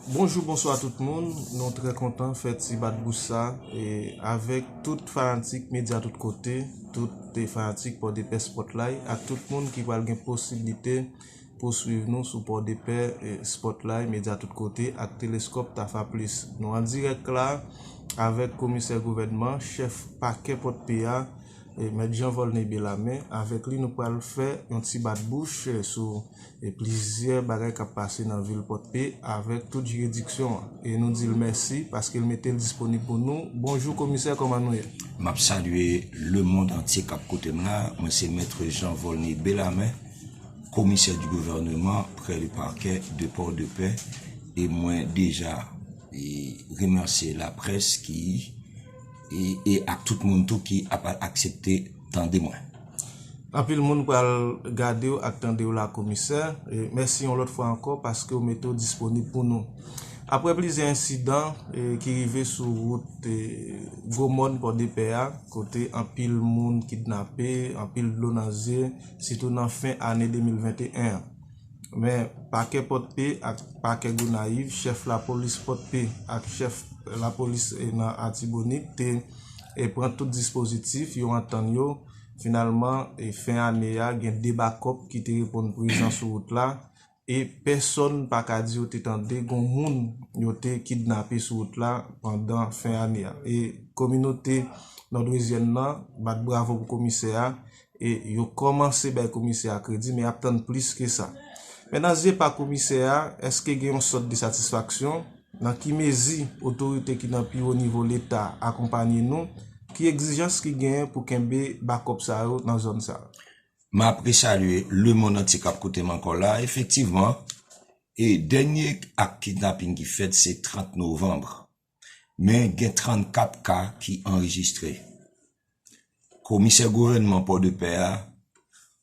Bonjou bonswa tout moun, nou trè kontan fè ti bat bouch sa e avèk tout fanatik medya tout kote, tout te fanatik pòdepè spòtlay ak tout moun ki pral gen posiblite pou swiv nou sou pòdepè spòtlay medya tout kote ak teleskòp tafa plis. Nou an dirèk la avèk komisè gouvènman chèf pakè pòdpè a. Mèt Jean Volney Bellarmé. Avèk li nou pral fè yon ti bat bouch sou plizyè bagay k ap pase nan vil Pòdpe avèk tout jiridiksyon an. E nou di l mèsi paske l mete l disponib pou nou. Bonjou komisè kòman nou ye? M ap salye lemond antye k ap koute m la. Mwen se Maitre Jean Volney Bellarmé, Commissaire du Gouvernement près le Parquet de Port-de-Paix e mwen deja remèsye laprès ki. e ak tout moun tou ki ap aksepte tande mwen. Anpil moun pral gadew ak tandew la komisè, mèsi yon lòt fwa ankò paskew mete w disponib pou nou. Aprè plizyè ensidan ki rive sou wout gwo mòn pòdepè a kote anpil moun kidnape, anpil dlo nan zye sitou nan fen ane 2021 an. Men, Pakè Pòdpe ak Pakè Gonayiv, Chèf Lapolis Pòdpe ak Chèf Lapolis nan Atibonit te pran tout dispozitif, yo antann yo. Finalman, fen ane a, gen 2 bakòp ki te reponn prezan sou wout la e pèsonn pa ka di yo te tande gon moun yo te kidnape sou wout la pandan fen ane a. E kominote Nòdwezyèn nan bat bravo pou Komisè a e yo kòmanse bay komisè a kredi men y ap tann plis ke sa. Men nan zye pa komisè a, èske gen yon sòt de satisfaksyon? Nan ki mezi otorite ki nan pi wo nivo leta akonpanye nou? Ki egzijans ki genyen pou kenbe bakòp sa yo nan zòn sa? M ap resalye lemonn antye k ap koute m ankò la. Efektivman, e dènye ak kidnaping ki fèt se 30 novanm. men gen 34 ka ki anrejistre. Komisè gouvènman Pòdepè a,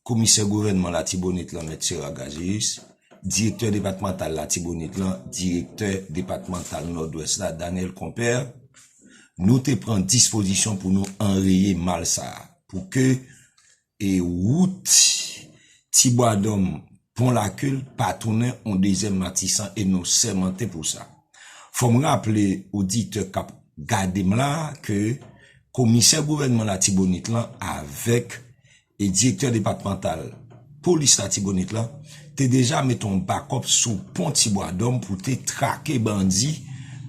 Komisè gouvènman Latibonit lan Mèt Sera Gazeus, Direktè depatmantal Latibonit lan, Direktè depatmantal Nòdwès la Daniel Compère, nou te pran dispozisyon pou nou anreye mal sa a pou ke E wout Ti Bwa Dòm, Pon Lakil pa tounen on dezyèm Matisan e nou sèmante pou sa. Fò m raple oditè k ap gade m la ke komisè gouvènman Latibonit lan avèk direktè depatmantal polis Latibonit lan, te deja met yon bakòp sou pon Tibwadòm pou te trake bandi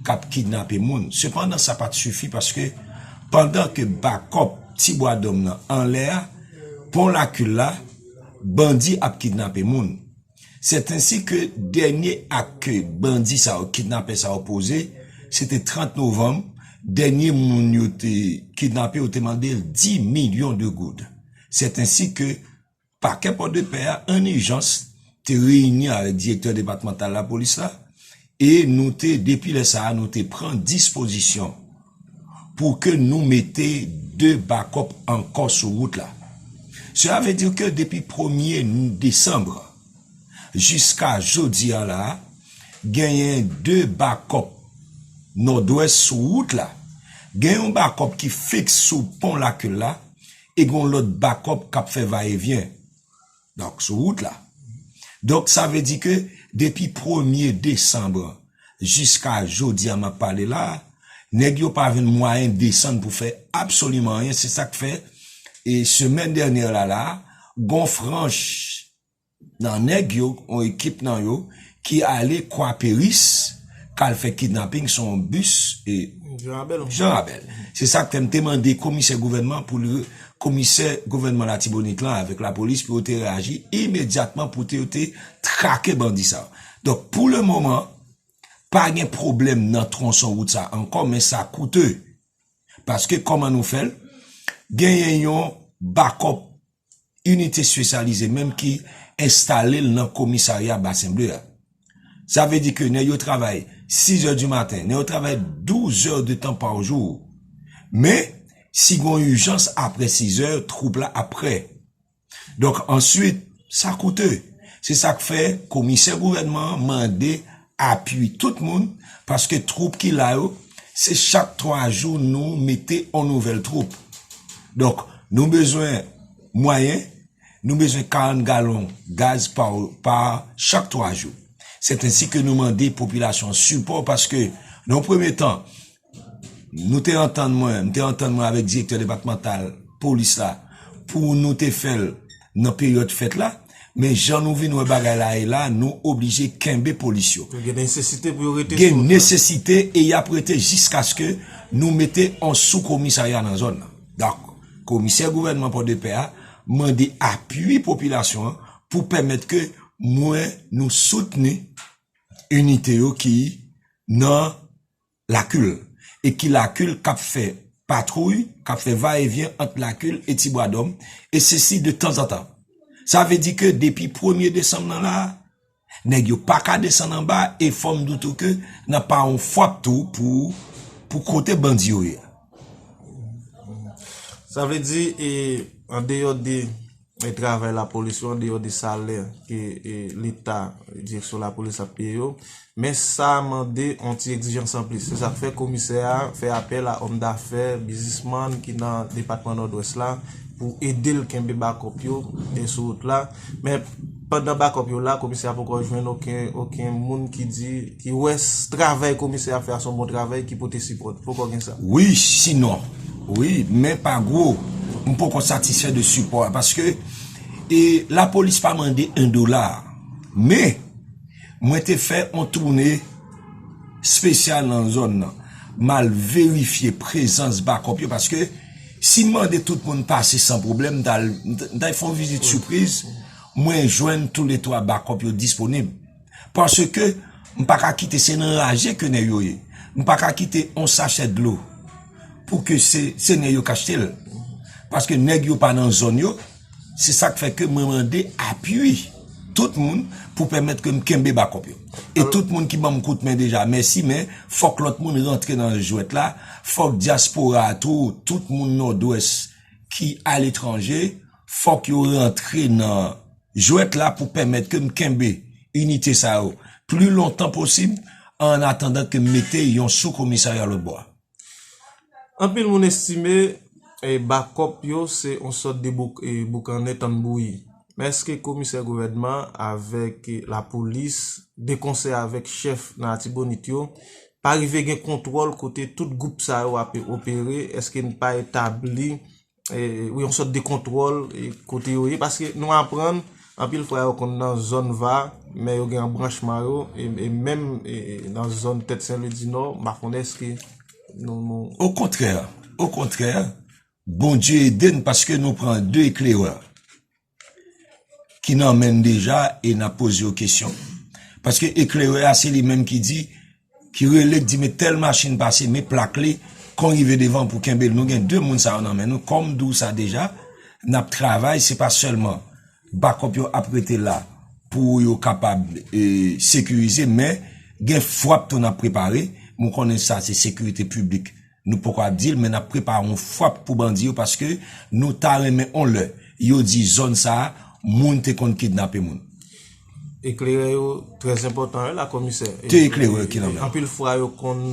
k ap kidnape moun. Sepandan sa pa t sifi paske pandan ke bakòp Tibwadòm nan anlè a, pon Lakil la, bandi ap kidnape moun. Sètainsi ke dènye ak ke bandi sa yo, kidnapè sa yo poze, se te 30 novanm, dènye moun yo te kidnape yo te mande l 10 milyon de goud. Sètainsi ke. Pakè Pòdepè a an ijans te reyini avèk direktè depatmantal lapolis la e nou te, depi lè sa a, nou te pran dispozisyon pou ke nou mete 2 bakòp ankò sou wout la. Sela vle di ke depi premye desanbre jiska jodi a la a, genyen 2 bakòp Nòdwès sou wout la. Gen yon bakòp ki fiks sou pon Lakil la e gen yon lòt bakòp k ap fè va e vyen donk sou wout la donk sa vle di ke depi premye desanm jiska jodi a m ap pale la a nèg yo pa jwenn mwayen desann pou fè absoliman anyen se sa k fè e semèn dènyè la la a gen yon franch nan nèg yo yon ekip nan yo ki ale kwaperis kal fè kidnaping sou yon bis janrabèl se sak fèm te mande komisè gouvènman pou li komisè gouvènman latibonit lan avèk lapolis pou yo te reyaji imedyatman pou yo te trake bandi sa donk pou le moman pa gen pwoblèm nan tronson wout sa ankò men sa koute paske kòman nou fèl genyen yon bakòp inite espesyalize menm ki enstale l nan komisarya Basen Ble a. Sa vle di ke nèg yo travay 6 è di maten, nèg yo travay 12 è de tan pa jou. Men, si gon ijans apre 6 è, twoup la ap prè. Donk, answit, sa koute. Se sa k fè komisè gouvènman an mande apui tout moun paske troup ki la yo se chak 3 jou nou mete on nouvel troup donk nou bezwen mwayen nou bezwen 40 galon gaz pa chak 3 jou sèt ensi ke nou mande popilasyon sipò paske nan on premye tan nou te antann mwen, m te antann mwen avèk direktè depatmantal polis la pou nou te fè l nan peryòd fèt la, men jan nou vin wè bagay la ye la, nou oblije kenbe polis yo. Gen nesesite pou yo rete sou wout la. Gen nesesite e y ap rete jiskaske nou mete yon sou komisarya nan zòn nan. Donk, komisè gouvènman Pòdepè a mande apui popilasyon an pou pèmèt ke mwen nou soutni inite yo ki nan. Lakil, e ki Lakil kap fè patwouy, kap fè va e vyen ant Lakil e Ti Bwadòm, e sesi de tanzantan. Sa vle di ke depi premye desanm nan la, nèg yo pa ka desann anba e fò m di w tou ke nan pa yon fwap tou pou kote bandi yo ye. Sa vle di e andeyò de. e travay lapolis yo andeyò de salè ke leta, direksyon lapolis ap peye yo, men sa mande yon ti egzijans anplis. Se sa k fè komisè a fè apèl a òm dafè, bizismann ki nan depatman Nòdwès la pou ede l kenbe bakòp yo sou wout la. Pandan bakòp yo la, komisè a poko jwenn oken oken moun ki di, ki wè travay komisè ap fè a son bon travay ki pote sipòt. Poko gen sa. Wi, sinon. Wi, men pa gwo. M poko satisfè de sipò a paske e lapolis pa mande 1 dola. Men, mwen te fè on toune spesyal nan zòn nan. M al verifye prezans bakòp yo paske. Si m mande tout moun pase san pwoblèm, m ta m ta fè yon vizit sipriz, mwen jwenn tou le twa bakòp yo disponib. Paske m pa ka kite se nan raje ke nèg yo ye. M pa ka kite yon sachè dlo pou ke se se nèg yo k achte l. Paske nèg yo pa nan zòn yo. Se sak fè ke mwen mande apui tout moun pou pèmèt ke m kenbe bakòp yo. E tout moun ki banm kout men deja mèsi men fòk lòt moun rantre nan jwèt la, fòk dyaspora a tou, tout moun Nòdwès ki aletranje fòk yo rantre nan jwèt la pou pèmèt ke m kenbe inite sa yo pli lontan posib an atandan ke m mete yon sou komisarya lòt bò a. Anpil moun estime bakòp yo se yon sòt de boukannen tann bouyi. Men èske komisè gouvènman avèk lapolis de konsè avèk chèf nan Atibonit yo pa rive gen kontwòl kote tout gwoup sa yo ape opere, èske n pa etabli ou yon sòt de kontwòl kote yo ye paske nou aprann anpil fwa yo konn nan zòn va men yo gen yon branchman yo e menm nan zòn tèt sen lwi dinò m pa konnen eske nou nou okontrè okontrè bondye ede n paske nou pran de eklerè ki nan menn deja e nap poze yo kesyon paske eklerè a se li menm ki di ki rele di me tel machin pase me plak li kon rive devan pou kenbe nou gen 2 moun sa yo nan menn nou kom di w sa deja nap travay se pa selman bakop yo ap rete la pou yo kapab sekirize men gen fwap tou nap prepare mou konnen sa se sekirite publik. Nou poko ap dil men nap prepare yon fwap pou bandi yo paske nou ta renmen yon lè yo di zòn sa moun te konn kidnape moun. Eklerè yo trè enpòtan wi la komisè. Ke eklerè ki nan men w? Anpil fwa yo konn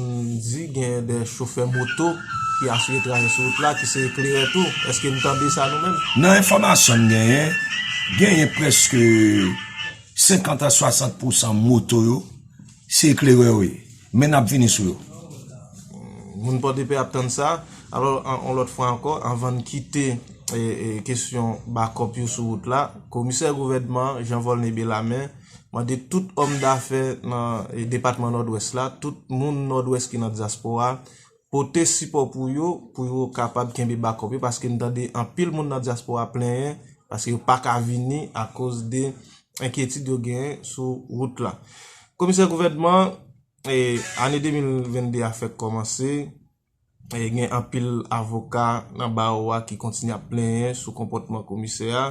di gen de chofè moto ki asire trajè sou wout la ki se eklerè tou. Eske nou tande sa nou menm? Nan enfòmasyon m genyen, genyen prèske 50 a 60 pousan moto yo. Se eklerè yo ye. Men nap vini sou yo. Moun Pòdepè ap tann sa. Alò, yon lòt fwa ankò, anvan n kite kesyon bakòp yo sou wout la, Komisè Gouvènman Jean Volney Bellarmé mande tout òm dafè nan depatman Nòdwès la, tout moun Nòdwès ki nan dyaspora, pote sipò pou yo, pou yo kapab kenbe bakòp yo, paske n tande anpil moun nan dyaspora plenyen, paske yo pa ka vini akoz de enkyetid yo genyen sou wout la. Komisè gouvènman, ane 2022 a fèk kòmanse, gen anpil avoka nan bawo a ki kontinye ap plenyen sou konpòtman komisè a,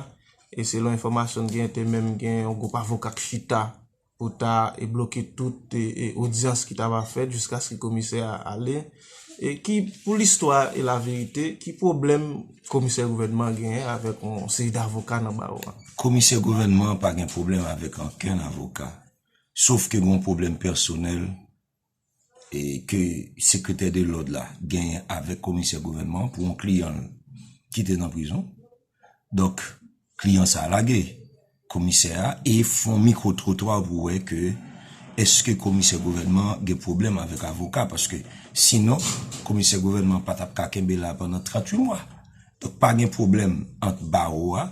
e selon enfòmasyon n genyen te menm gen yon gwoup avoka k chita pou ta e bloke tout e odyans ki ta va fèt jiskaske komisè a ale e ki pou listwa e laverite ki pwoblèm komisè gouvènman an genyen avèk yon seri davoka nan bawo a? Komisè gouvènman an pa gen pwoblèm avèk ankenn avoka, sof ke gen yon pwoblèm pèsonèl e ke sekretè de lòd la genyen avèk komisè gouvènman pou yon kliyan l ki te nan prizon. Donk, kliyan sa a lage komisè a e fon mikwo twotwa pou wè ke eske komisè gouvènman gen pwoblèm avèk avoka paske sinon komisè gouvènman pa t ap ka kenbe la pandan 38 mwa. Donk pa gen pwoblèm ant bawo a,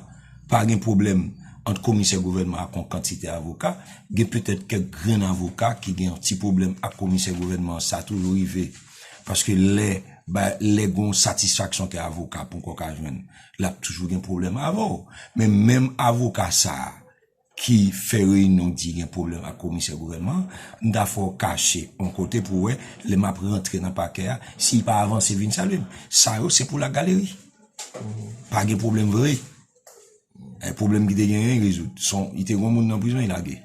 pa gen pwoblèm ant komisè gouvènman ak yon kantite avoka. Gen petèt kèk grenn avoka ki gen yon ti pwoblèm ak komisè gouvènman an, sa toujou rive. Paske lè lè gen yon satisfaksyon ke avoka ponkò ka jwenn, l ap toujou gen pwoblèm avè w. Men menm avoka sa a. ki fè reyinyon di gen pwoblèm ak komisè gouvènman an, m ta fè w kache yon kote pou w wè lè m ap rantre nan pakè a, si l pa avanse vin salye m. Sa yo se pou lagaleri. Pa gen pwoblèm vre. Pwoblèm ki te genyen yo rezoud. Si te gen yon moun nan prizon, yo lage.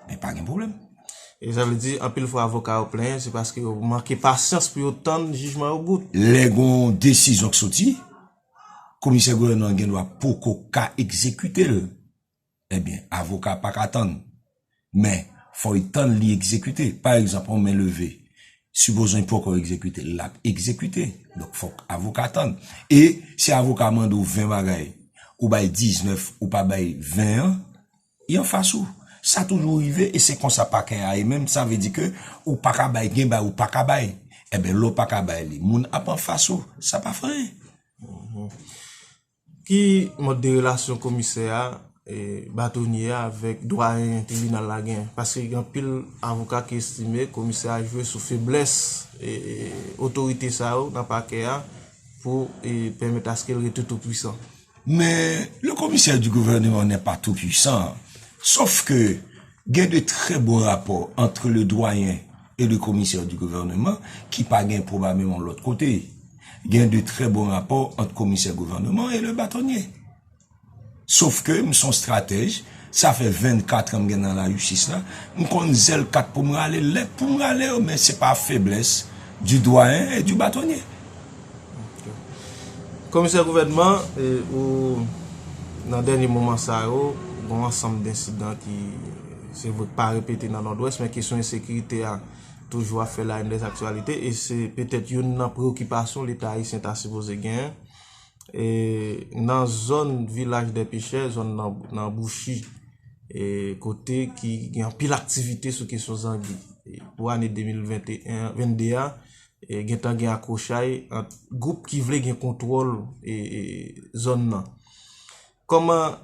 Men pa gen pwoblèm. E sa vle di, anpil fwa avoka yo plenyen, se paske yo manke pasyans pou yo tann jijman yo bout. Lè gen yon desizyon ki soti, komisè gouvènman an gen dwa poko ka egzekite l. Ebyen avoka pa ka tann men fò li tann li egzekite pa egzanp yon men leve sipoz li poko egzekite l lap egzekite donk fòk avoka tann e si avoka mande w 20 bagay ou bay 19 ou pa bay 20 an li anfas ou sa toujou rive e se konsa pakè a ye menm sa vle di ke ou pa ka bay gen bagay ou pa ka bay ebyen lè w pa ka bay li moun ap anfas ou sa pa fè anyen. Ki mòd de relasyon komisè a, batonye a avèk dwayen tribinal la gen? Paske gen anpil avoka ki estime komisè a jwe sou feblès otorite sa yo nan pakè a pou pèmèt aske l rete tou pwisan. Men, le commissaire du gouvernement n'est pas tout puissant, sof ke Gen de trè bon rapò antre le Doyen e le Komisè di Gouvèneman ki pa gen pwobabilman lòt kote. Gen de trè bon rapò ant Komisè Gouvèneman e le Batonye. Sof ke m son stratèj, sa fè 24 an m gen nan lajistis la, m konn zèl kat pou m rale, lèt pou m rale yo, men se pa feblès di Doyen e di Batonye. Komisè Gouvènman, ou nan dènye moman sa yo, gon ansanm densidan ki se vre k pa repete nan Nòdwès, men kesyon ensekirite a toujou ap fè la yn dezaktyalite, e se petèt youn nan preokipasyon Leta ayisyen ta sipoze genyen. E nan zòn Vilaj dè Pechè, zòn nan Bouchi, e kote ki gen anpil aktivite sou kesyon zangi. Pou ane 2022 a, gentan gen akwochay ant gwoup ki vle gen kontwòl zòn nan. Kòman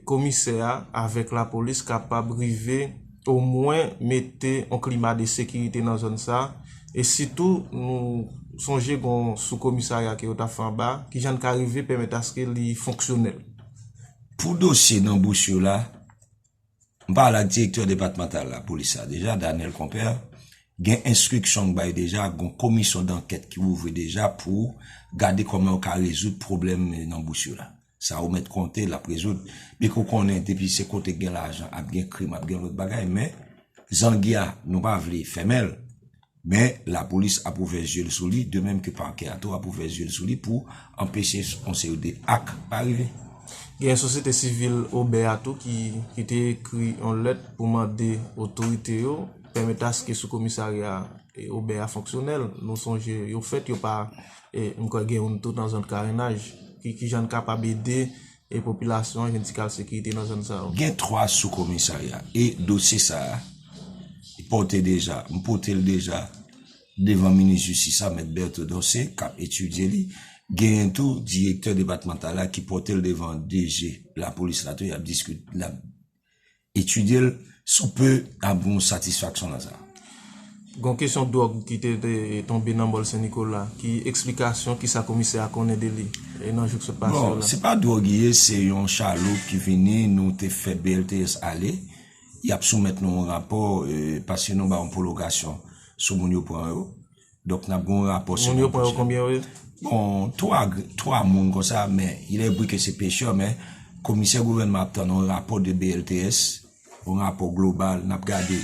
komisè a avèk lapolis kapab rive omwen mete yon klima de sekirite nan zòn sa, e sitou nou sonje gen yon soukomisarya ke yo ta fè anba, kijan n ka rive pèmèt aske li fonksyonèl? Pou dosye nan bous yo la, M pale ak direktè depatmantal lapolis la deja, Daniel Compère, gen enstriksyon k bay deja, gon komisyon dankèt ki ouvri deja pou gade kòman yo ka rezoud pwoblèm nan bous yo la. Sa ou mèt konte l ap rezoud. Byen ke ou konnen depi se kote k gen lajan ap gen krim, ap gen lòt bagay men zangi a nou pa vle fèmen l. Men, lapolis ap ouvè zye l sou li, de menm ke pakè a tou ap ouvè zye l sou li pou anpeche yon seri de ak pa rive. Gen sosyete sivil Obè a tou ki te ekri yon lèt pou mande otorite yo pèmèt aske sou komisarya Obè a fonksyonèl. Nou sonje yo fèt, yo pa, m kwè gen youn tou nan zòn Karenaj. Ki jan n kapab ede E popilasyon an jwenn ti kal sekirite nan zòn sa yo. Gen 3 sou komisarya e dosye sa a pote deja, m pote l deja devan minis jistis la mèt Bertho Dorcé k ap etidye li, genyen tou direktè depatmantal la ki pote l devan DG lapolis la tou y ap diskite. etidye l si w pe ap gen yon satisfaksyon nan sa. Gon kesyon dwòg ki te tonbe nan Mòl Sen Nikola, ki eksplikasyon ki sa komisè a konnen de li nan jou k sot pase yo la? Bon, se pa dwòg li ye, se yon chaloup ki vini, nou te fè BLTS ale, y ap soumèt nou yon rapò paske nou ba yon pwolongasyon sou moun yo pran yo. Donk nap gen yon rapò semen pwochen. Moun yo pran yo konbyen yo ye? Bon, 3 grenn, 3 moun konsa men il est vre ke se pechè men komisè gouvènman ap tann yon rapò de BLTS, yon rapò global nap gade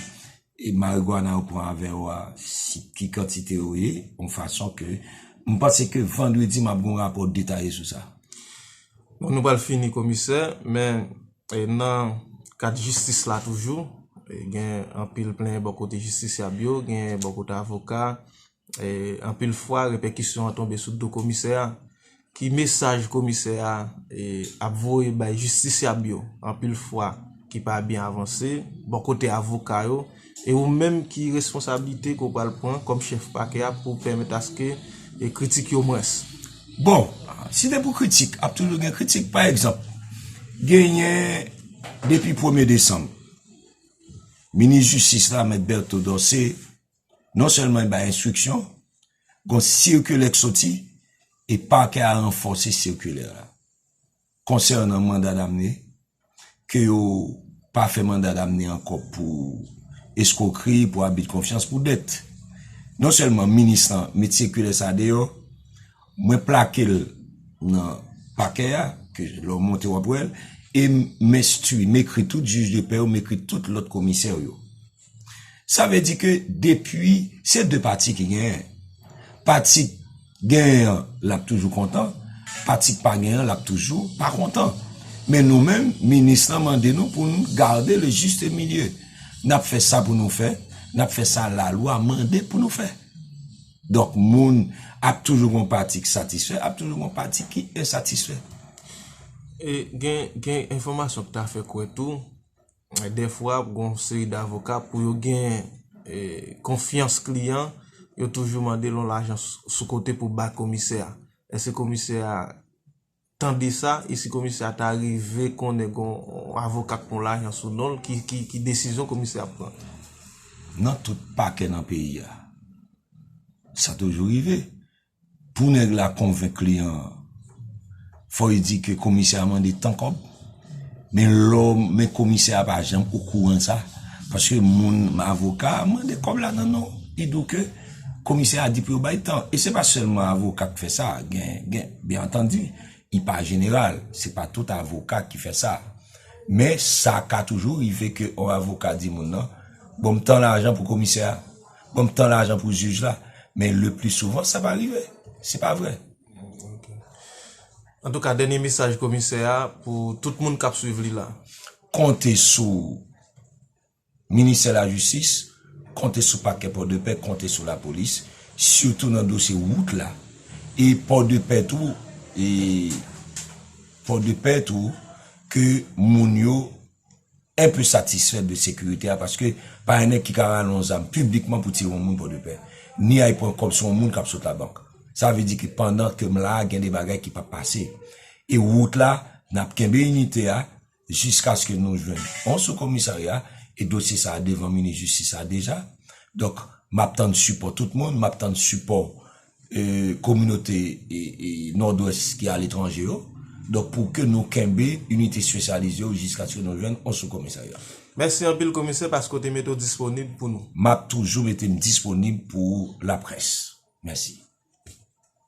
e marigwana yo pran avè yo a si ki kantite yo ye yon fason ke m panse ke vandredi map gen yon rapò detaye sou sa. Bon nou pral fini komisè men. Nan kad jistis la toujou, gen anpil plenyen bò kote jistisyab yo, gen bò kote avoka. Anpil fwa repèkisyon an tonbe sou do komisè a. Ki mesaj komisè a ap voye bay jistisyab yo anpil fwa ki pa byen avanse bò kote avoka yo? E ou menm ki responsablite ke ou pral pran kòm chèf pakè a pou pèmèt aske kritik yo mwens? Bon, si se pou kritik, ap toujou gen kritik. Pa egzanp, genyen depi premye desanm, minis jistis la, mèt Bertho Dorcé, non sèlman li bay enstriksyon, gon sirkilè k soti, e pakè a ranfòse sirkilè a. Konsènan manda damne, ke yo pa fè manda damne ankò pou eskwokri, pou abid konfyans, pou dèt. Non sèlman minis lan met sikilè sa deyò, mwen plake l nan pakè a, ke lè w monte w ap wè l, e m enstwi, m ekri tout jij de pè yo, m ekri tout lòt komisè yo. Sa vle di ke depi se 2 pati ki genyen. Pati ki genyen an l ap toujou kontan, pati ki pa genyen an l ap toujou pa kontan. Men nou menm, minis lan mande nou pou nou gade le juste milieu. N ap fè sa pou nou fè, n ap fè sa lalwa mande pou nou fè. Donk moun ap toujou gon pati ki satisfè, ap toujou gon pati ki ensatisfè. E gen enfòmasyon ki ta fè kwè tou, Dèfwa gon yon seri davoka pou yo gen konfyans kliyan, yo toujou mande l yon lajan sou kote pou bay komisè a. Èske komisè a tande sa? E si komisè a ta rive konnen gon yon avoka k pran lajan sou non l, ki desizyon komisè a ap pran? Nan tout pakè nan peyi a, sa toujou rive. Pou nèg la konvenk kliyan an, fò li di ke komisè a mande tan kòb, men lò, men komisè a pa janm okouran de sa, paske moun, avoka a mande kòb la nan non, li di w ke komisè a di pou yo bay tan. E se pa sèlman avoka k fè sa, gen, gen, byen antandi, li pa jeneral, se pa tout avoka ki fè sa. Men sa ka toujou rive ke yon avoka di moun nan, bon m tan lajan pou komisè a. Mwen gntan lajan pou juge la men le plus souvent sa pa rive se pa vre. Antouka dènye mesaj komisè a pou tout moun kap swiv li la. Konte sou ministè lajistis, konte sou pakè pòdepè, konte sou lapolis, sitou nan dosye wout la e pòdepè tou e pòdepè tou ke moun yo. en peu satisfè de sekirite a paske pa yon nèg ki ka rale yon zam piblikman pou tire yon moun Pòdepè, ni al pran kòb sou yon moun k ap sot labank. Sa vle di ke pandan ke m la a gen de bagay ki p ap pase. E wout la, n ap kenbe inite a jiskaske nou jwenn yon soukomisarya e dosye sa a devan minis jistis la deja. Donk, m ap tann sipò tout moun, m ap tann sipò kominote Nòdwès ki aletranje yo, donk pou ke nou kenbe inite espesyalize yo jiskaske nou jwenn yon sou komisarya. Mèsi anpil komisè paske w te mete w disponib pou nou. M ap toujou mete m disponib pou laprès. Mèsi.